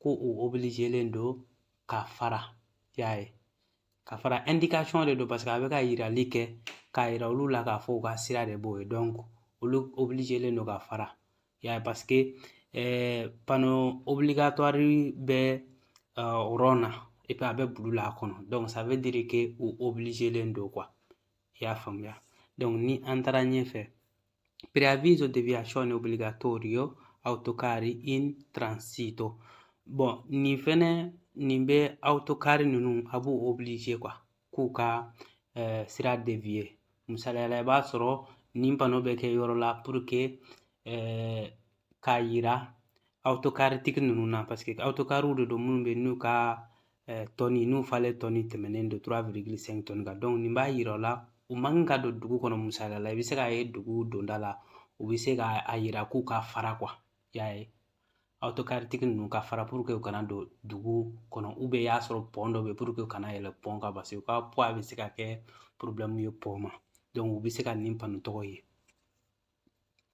ko u obilizelen don ka fara y'a ye ka fara indication de don parce que a bɛ ka yirali kɛ k'a yira olu la k'a fɔ u ka sira de b'o ye donc olu obilizelen don ka fara y'a ye parce que eh, panneau obligatoire bɛ uh, rond na et puis a bɛ bulu la a kɔnɔ donc ça veut dire que u obilizelen don quoi i y'a faamuya donc ni an taara ɲɛfɛ Preavviso deviazione obbligatorio autocarri in transito. Bon, nin fɛnɛ nin bɛ autocari ninnu a b'u obligé quoi k'u ka eh, sira dévier. Misaliya la i b'a sɔrɔ nin pano bɛ kɛ yɔrɔ la pour que eh, k'a yira autocari tigi ninnu na parce que autocariw de don minnu bɛ n'u ka eh, tɔni n'u falen tɔni tɛmɛnen don 3,5 tɔni kan donc nin b'a yira o la u man kan ka don dugu kɔnɔ misaliya la i bɛ se k'a ye dugu donda la u bɛ se k'a yira k'u ka fara quoi y'a ye autocari tigi ninnu ka fara pour que u kana don dugu kɔnɔ ou bien i y'a sɔrɔ pɔn dɔ bɛ pour que u kana yɛlɛ pɔn kan parce que u ka poids bɛ se ka kɛ porobilɛmu ye pɔn ma donc u bɛ se ka nin pano tɔgɔ ye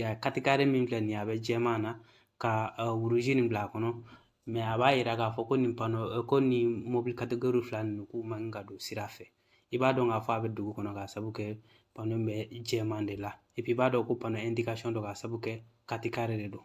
ya katikari min filɛ nin ye a bɛ jɛman na ka rouge nin bila a kɔnɔ mais a b'a yira k'a fɔ ko nin pano ko nin mobili kategori fila ninnu k'u man ka don sira fɛ i b'a dɔn k'a fɔ a bɛ dugu kɔnɔ k'a sabu kɛ pano bɛ jɛman de la i b'a dɔn ko pano indication don k'a sabu kɛ katikari de don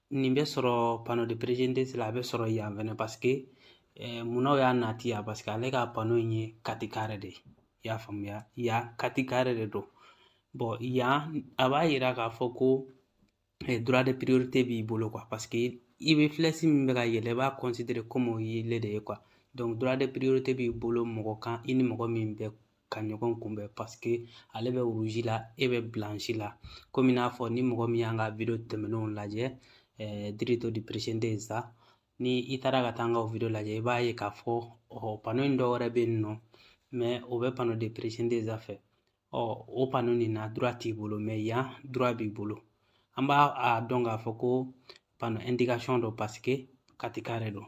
nin bɛ sɔrɔ pano de précédence la a bɛ sɔrɔ yan fɛnɛ parce que eh, munna u y'a nati yan parce que ale ka pano in ye katikare de ye i y'a faamuya yan katikare de don bon yan a b'a yira k'a fɔ ko eh, droit de priorité b'i bolo quoi parce que i bɛ flèche min bɛ ka yɛlɛ i b'a considérer comme o y'ele de ye quoi donc droit de priorité b'i bolo mɔgɔ kan i ni mɔgɔ min bɛ ka ɲɔgɔn kunbɛn parce que ale bɛ rouge la e bɛ blanche la komi i n'a fɔ ni mɔgɔ min y'an ka video tɛmɛnenw lajɛ diritto di precedenza ni i taara ka taa an ka video lajɛ i b'a ye k'a fɔ ɔ pano in dɔ wɛrɛ bɛ yen nɔ mais o bɛ pano de precedenza fɛ ɔ o pano nin na droit t'i bolo mais yan droit b'i bolo an b'a dɔn k'a fɔ ko pano indication don parce que katikare don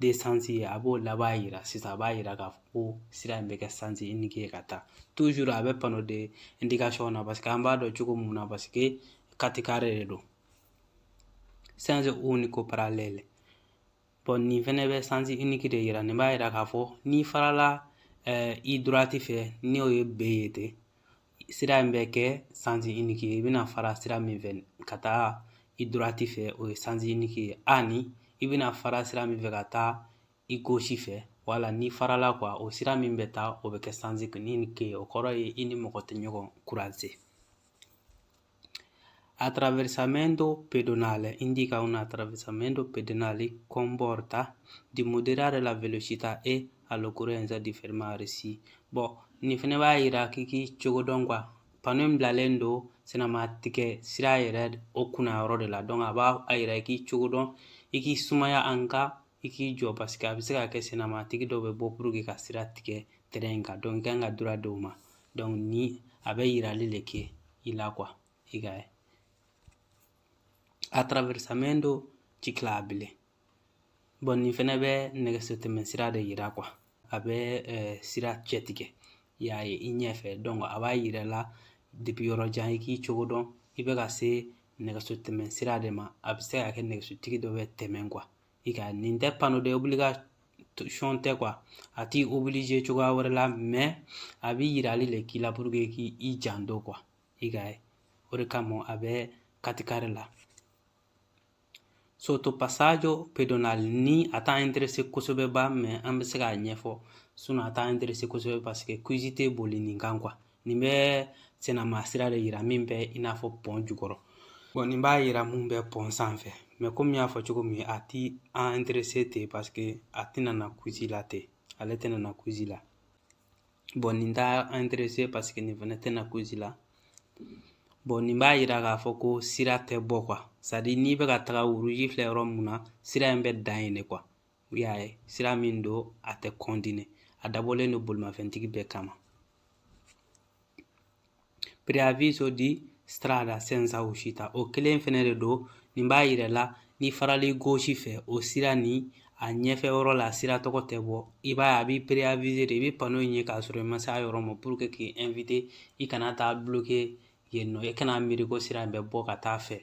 deux sens ye a b'o laban yira sisan a b'a yira k'a fɔ ko sira in bɛ kɛ sens unique ye ka taa toujours a bɛ pano de indication na parce que an b'a dɔn cogo mun na parce que katikare de don senso unico parallèle bon nin fɛnɛ bɛ sens unique de yira nin b'a yira k'a fɔ n'i farala i droite fɛ n'o ye B ye ten sira in bɛ kɛ sens unique ye i bɛna fara sira min fɛ ka taa i droite fɛ o ye sens unique ye ani i bɛna fara sira min fɛ ka taa i gauche fɛ wala n'i farala quoi o sira min bɛ taa o bɛ kɛ sens unique ye o kɔrɔ ye i ni mɔgɔ tɛ ɲɔgɔn croiser Attraversamento pedonale indica un attraversamento pedonale comporta di moderare la velocità e all'occorrenza di fermarsi. Bon, nin fɛnɛ b'a yira k'i k'i cogo dɔn kuwa pano in bilalen don senama tigɛ sira yɛrɛ o kunna yɔrɔ de la donc a b'a yira i k'i cogo dɔn i k'i sumaya an ka i k'i jɔ paseke a bɛ se ka kɛ sennamatigi dɔ bɛ bɔ puruke ka sira tigɛ tɛrɛn in kan i kan ka droit d'o ma ni a bɛ yirali de kɛ i la kuwa i ka ye attraversamento ciclabile bɔn nin fɛnɛ bɛ nɛgɛso tɛmɛ sira de yira kuwa a bɛ eh, sira cɛtigɛ i y'a ye i ɲɛfɛ a b'a yira la depi yɔrɔ jan i k'i cogo dɔn i bɛ ka se nɛgɛso tɛmɛ sira de ma a bɛ se ka kɛ nɛgɛsotigi dɔ bɛ tɛmɛ kuwa i ka nin tɛ pano de obligation tɛ kuwa a t'i oblige cogoya wɛrɛ la mɛ a bɛ yirali le k'i la pour que k'i janto kuwa i ka ye o de kama a bɛ katikari la sottopassaggio pedonale nin a t'an interese kosɛbɛ ba mɛ an bɛ se k'a ɲɛfɔ sinɔn a t'an interese kosɛbɛ parce que quiz tɛ boli nin kan kuwa nin bɛ senama sira de yira min bɛ i n'a fɔ pɔn jukɔrɔ bɔn nin b'a yira mun bɛ pɔn sanfɛ mɛ komi y'a fɔ cogo min a ti an interese ten paske a tɛna na quiz la ten ale tɛna na quiz la bɔn nin t'an interese paske nin fɛnɛ tɛna quiz la bɔn nin b'a yira k'a fɔ ko sira tɛ bɔ kuwa sadi n'i bɛ ka taga rouge filɛ yɔrɔ mun na sira in bɛ dan yen de kuwa i y'a ye sira min don a tɛ continuer a dabɔlen don bolimafɛntigi bɛɛ kama preavviso di strada senza uscita o kelen fɛnɛ de don nin b'a yira la ni farali gauche fɛ o sira ni a ɲɛfɛ yɔrɔ la sira tɔgɔ tɛ bɔ i b'a ye a b'i preavize de i bɛ pano in ye k'a sɔrɔ i ma se a yɔrɔ ma puruke k'i invite i kana taa bloke yen nɔ i kana miiri ko sira in bɛ bɔ ka taa fɛ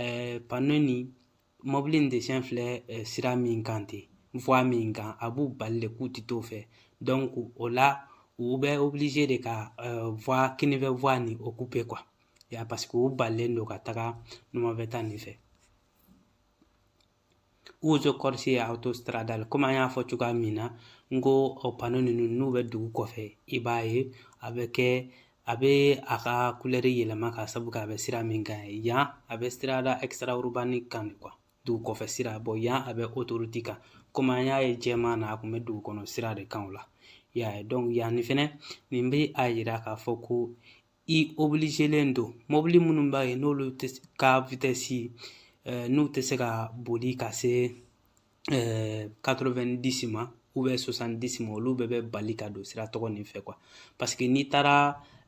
ɛɛ pano nin mɔbili nin desɛn filɛ ɛɛ sira min kan ten voie min kan a b'u bali de k'u ti t'o fɛ dɔnku o la u bɛ obilize de ka ɛɛ voie kinifɛ voie nin okupe kuwa ya paseke u balilen don ka taga numafɛta nin fɛ uso corsie autostradale komi an y'a fɔ cogoya min na n ko o pano ninnu n'u bɛ dugu kɔfɛ i b'a ye a bɛ kɛ a bɛ a ka kulɛri yɛlɛma ka sabu kɛ a bɛ sira min kan yan a bɛ strada extraurbana kan de kuwa dugu kɔfɛ sira bɔn yan a bɛ autoroute kan komi an y'a ye jɛman na a tun bɛ dugu kɔnɔ sira de kan o la i y'a ye dɔnku yan ni fɛnɛ nin bɛ a yira k'a fɔ ko i obilizelen don mɔbili minnu b'a ye n'olu ka vitɛsi eh, n'u tɛ se ka boli ka se 90 eh, ma ubiyɛn 60 ma olu bɛɛ bɛ bali ka don sira tɔgɔ nin fɛ kuwa paseke n'i taara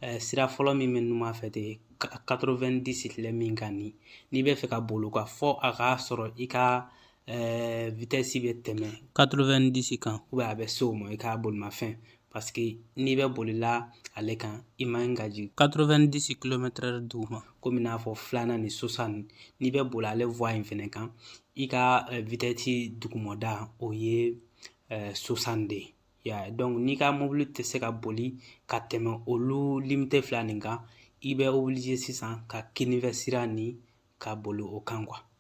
eh, sira fɔlɔ min bɛ numan fɛ ten 90 filɛ min kan ni n'i bɛ fɛ ka boli o kan fɔ a k'a sɔrɔ i ka ɛɛ vitɛsi bɛ tɛmɛ 90 kan ubiyɛn a bɛ se o ma i ka bolimafɛn paseke n'i bɛ bolila ale kan i man ka jigin 90 kilomɛtɛrɛ duguma komi n'a fɔ filanan ni 60 ni n'i bɛ boli ale vuwa in fɛnɛ kan i ka vitɛsi dugumada o ye 60 de ye ya donc n'i ka mobili tɛ se ka boli ka tɛmɛ olu limite fila nin kan i bɛ oblige sisan ka kinifɛ sira ni ka boli o kan kuwa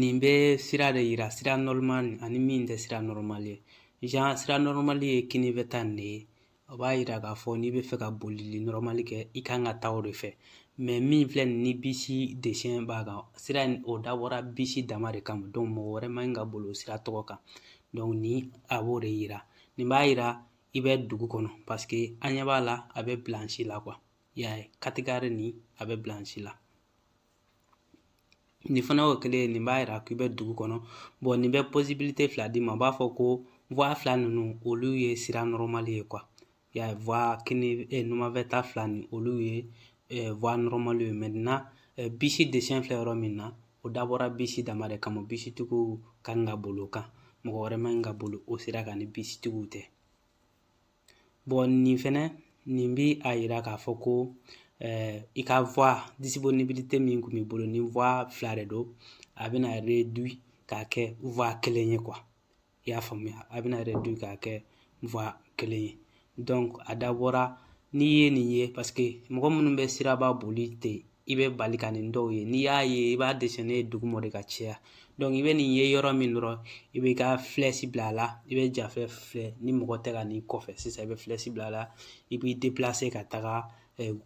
nin bɛ sira de yira sira normal ani min tɛ sira normal ye genre sira normal ye kinifɛ ta nin de ye o b'a yira k'a fɔ n'i bɛ fɛ ka bolili normal kɛ i kan ka taa o de fɛ mɛ min filɛ nin ni bisi desɛn b'a kan sira in o dabɔra bisi dama de kama donc mɔgɔ wɛrɛ man ka boli o sira tɔgɔ kan donc ni a b'o de yira nin b'a yira i bɛ dugu kɔnɔ paseke an ɲɛ b'a la a bɛ bilansi la kuwa i y'a ye katigari nin a bɛ bilansi la nin fana y'o kelen ye nin b'a yira k'i bɛ dugu kɔnɔ bɔn nin bɛ posibilite fila d'i ma u b'a fɔ ko voie fila ninnu olu ye sira nɔrɔmali ye kuwa ya voie kini eh, numanfɛta fila nin olu ye eh, voie nɔrɔmali ye maintenant eh, bisi desɛn filɛ yɔrɔ min na o dabɔra bisi dama de kama bisitigiw kan ka boli o kan mɔgɔ wɛrɛ man ka boli o sira kan ni bisitigiw tɛ bɔn nin fɛnɛ nin bi a yira k'a fɔ ko eh, i ka voie disponibilité min kun b'i bolo ni voie fila de don a bɛna réduit k'a kɛ voie kelen ye quoi i y'a faamuya a bɛna réduit k'a kɛ voie kelen ye donc a dabɔra n'i ye nin ye parce que mɔgɔ minnu bɛ siraba boli ten i bɛ bali ka nin dɔw ye n'i y'a ye i b'a desɛn ye duguma de ka caya donc i bɛ nin ye yɔrɔ min dɔrɔn i bɛ ka filɛsi bila a la i bɛ jafɛ filɛ ni mɔgɔ tɛ ka n'i kɔfɛ sisan i bɛ filɛsi bila a la i b'i déplacer ka taga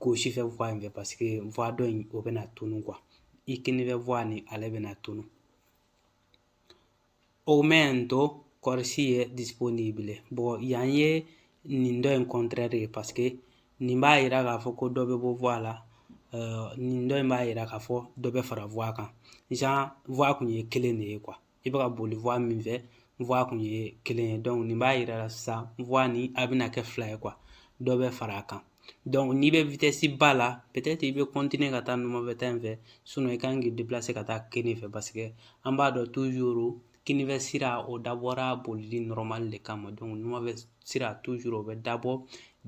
gosi fɛ voie in fɛ paseke voie dɔ in o bɛna tunu kuwa i kinifɛ voie nin ale bɛna tunu aumento corsie disponibili bon yan ye nin dɔ in contraire ye parce que nin b'a yira k'a fɔ ko dɔ bɛ bɔ voie la euh, nin dɔ in b'a yira k'a fɔ dɔ bɛ fara voie kan genre voie kun ye kelen de ye quoi i bɛ ka boli voie min fɛ voie kun ye kelen ye donc nin b'a yira la sisan voie ni a bɛna kɛ fila ye quoi dɔ bɛ fara a kan Donc n'i bɛ vitesse ba la peut-être i bɛ continuer ka taa numafɛta in fɛ sinon i kan k'i déplacer ka taa kini fɛ parce que an b'a dɔn toujours kinifɛ sira o dabɔra bolili normal de kama donc numafɛ sira toujours o bɛ dabɔ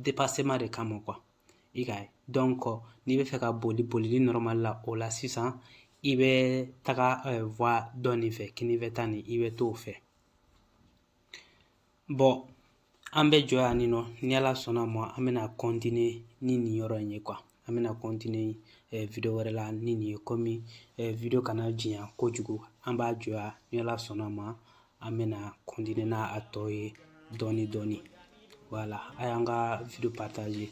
dépassement de kama quoi i k'a ye donc n'i bɛ fɛ ka boli bolili normal la o la sisan i bɛ taga voie dɔ nin fɛ kinifɛta nin i bɛ t'o fɛ bon an bɛ jɔ yan nin nɔ ni ala sɔnna ma an bɛna continuer ni nin yɔrɔ in ye quoi an bɛna continuer eh, video wɛrɛ la ni nin ye komi eh, video kana janya kojugu an b'a jɔ yan ni ala sɔnna ma an bɛna continuer n'a tɔ ye dɔɔni dɔɔni voilà a y'an ka video partager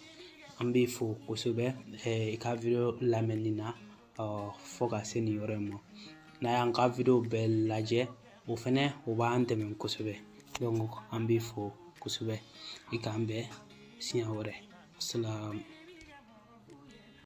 an b'i fo kosɛbɛ eh, i ka video lamɛnni na fo ka se nin yɔrɔ in ma n'a y'an ka video bɛɛ lajɛ o fɛnɛ o b'an dɛmɛ kosɛbɛ donc an b'i fo kosɛbɛ i k'an bɛn siɲɛ wɛrɛ asalamu